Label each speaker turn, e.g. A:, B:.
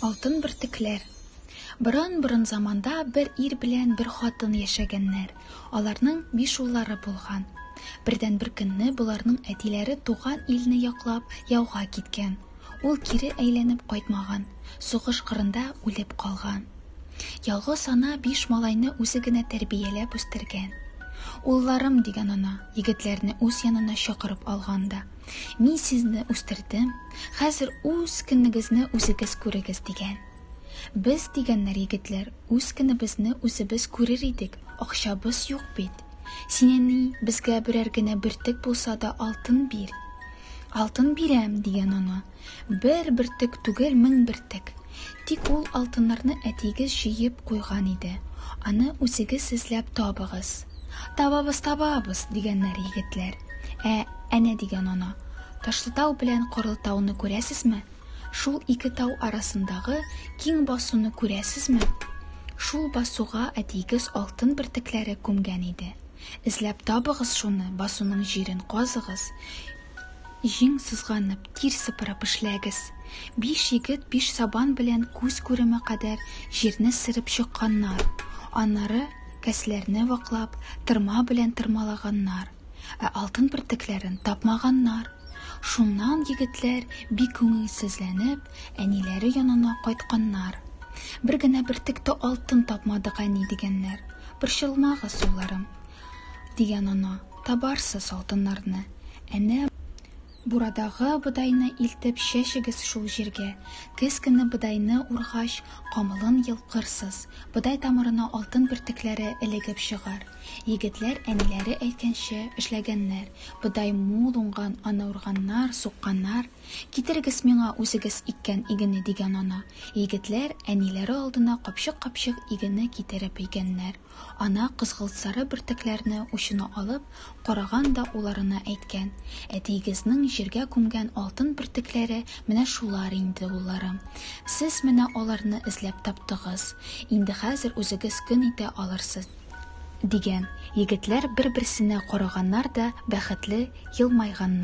A: Алтын бөртекләр Борын-борын заманда бер ир белән бер хатын яшәгәннәр. Аларның биш уллары булган. Бердән бер көнне боларның әтиләре туган илне яклап яуга киткән. Ул кире әйләнеп кайтмаган, сугыш кырында үлеп калган. Ялгыз ана биш малайны үзе генә тәрбияләп үстергән. Улларым дигән ана. Егетләрне үз янына чакырып алган да. Мин сезне үстердем, хәзер үз көнегезне үзегез күрегез, дигән. Без, дигәннәр егетләр, үз көнебезне үзебез күрер идек, акчабыз юк бит. Син, әни, безгә берәр генә бөртек булса да алтын бир. Алтын бирәм, дигән ана. Бер бөртек түгел, мең бөртек! Тик ул алтыннарны әтиегез җыеп куйган иде. Аны үзегез эзләп табыгыз. Табабыз, табабыз! дигәннәр егетләр. Ә, әнә дигән ана. Ташлытау белән Корылтауны күрәсезме? Шул ике тау арасындагы киң басуны күрәсезме? Шул басуга әтиегез алтын бөртекләре күмгән иде. Эзләп табыгыз шуны, басуның җирен казыгыз. Җиң сызганып, тир сыпырып эшләгез. Биш егет биш сабан белән күз күреме кадәр җирне сырып чыкканнар, аннары кәсләрне ваклап, тырма белән тырмалаганнар, ә алтын бөртекләрен тапмаганнар. Шуннан егетләр бик күңелсезләнеп, әниләре янына кайтканнар. Бер генә бөртек тә алтын тапмадык, әни, дигәннәр. Борчылмагыз, улларым. Дигән ана. Табарсыз алтыннарны. Әнә. Бурадагы бодайны илтеп чәчегез шул җиргә. Көз көне бодайны ургач, камылын йолкырсыз. Бодай тамырына алтын бөртекләре элегеп чыгар. Егетләр әниләре әйткәнчә эшләгәннәр. Бодай мул уңган, аны урганнар, сукканнар. Китерегез миңа үзегез иккән игене, дигән ана. Егетләр, әниләре алдына капчык-капчык игене китереп өйгәннәр. Ана кызгылт-сары бөртекләрне учына алып, караган да уларына әйткән, Әтиегезнең җиргә күмгән алтын бөртекләре менә шулар инде, улларым. Сез менә аларны эзләп таптыгыз. Инде хәзер үзегез көн итә алырсыз. Дигән. Егетләр бер-берсенә караганнар да бәхетле елмайганнар.